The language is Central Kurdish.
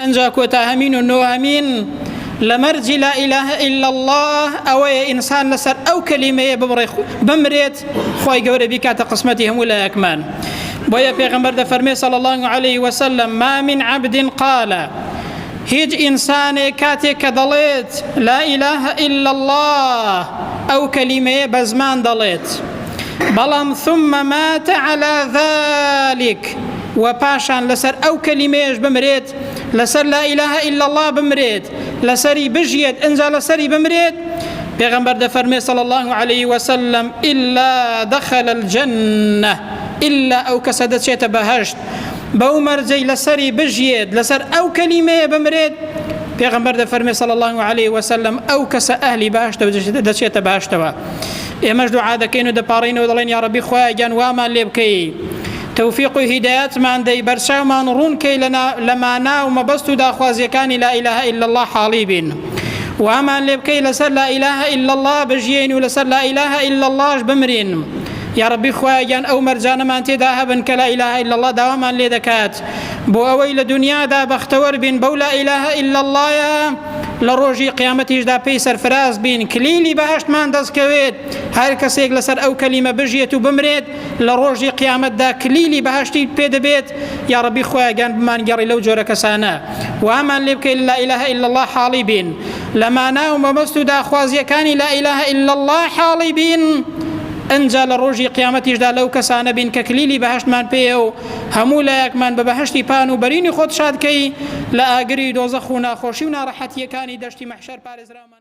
ئنجا کۆتا هەمین و نۆهەمین لە مەرجی لا اله الا اللە ئەوەیە ئینسان لەسەر ئەو کەلیمەیە ببڕێ بمرێت خوای گەورە بیکاتە قسمەتی هەموو لایەکمان بۆیە پێغمبەر دەفەرمێ صلی الله علیه وسلم ما من عبد قال هیچ ئینسانێک کاتێک کە دەڵێت لا اله الا الله ئەو کەلیمەیە بە زمان دەڵێت بەڵام ثم مات على ذلك و پاشان لەسەر ئەو کەلیمەیەش بمرێت لەسەر لا ئیلاه الا الله بمرێت لەسەری بژیت ئەجا لەسەری بمرێت پێغەمبەر دەفەرمێ صلی الله عليه وسلم الا دخل الجنة الا ئەو کەسە دەچێتە بەهشت بەو مەرجەی لەسەری بژیت لەسەر ئەو کەلیمەیە بمرێت پێغەمبەر دەفەرمێ صلی الله عليه وسلم ئەو کەسە ئەهلی باشتە دەچێتە باشتەوە ئێمەش دوعا دەکەین و دەپاڕینەوە دەڵێن یا ربی خوایە گیان وامان لێ بکەی تۆفیق و هیدایەتمان دەی بەرچاومان ڕوون کەی لە مانا و مەبەست و داخوازیەکانی لا ئیلاه الا الله حاڵی بین وامان لێ بکەی لەسەر لا ئیلاه الا الله بژیین و لەسەر لا ئیلاه الا اللهش بمرین یا ربی خوایان ئەو مەرجانەمان تێدا هەبن کە لا ئیلاه الا الله داوامان لێ دەکات بۆ ئەوەی لە دنیادا بەختەوەر بین بەو لا ئیلاه الا الله لە ڕۆژی قیامەتیشدا پێی سەرفراز بین کلیلی بەهشتمان دەستکەوێت هەر کەسێک لەسەر ئەو کەلیمە بژێت و بمرێت لە ڕۆژی قیامەتدا کلیلی بەهەشتی پێ دەبێت یا ڕەبی خۆیا گیان بمانگەڕی لەو جۆرە کەسانە وامان لێ بکەیت لا ئیلاه الا الله حاڵی بین لە مانا و مەبەست و داخوازیەکانی لا ئیلاه الا الله حاڵی بین ئەجا لە ڕۆژی قیامەتیشدا لەو کەسانە بین کە کلیلی بەهشتمان پێ و هەموو لایەکمان بە بەهشتی پان و بەرینی خۆت شادکەی لە ئاگری دۆزەخ و ناخۆشی و ناڕەحەتیەکانی دەشتی مەحشەر پارێزرامان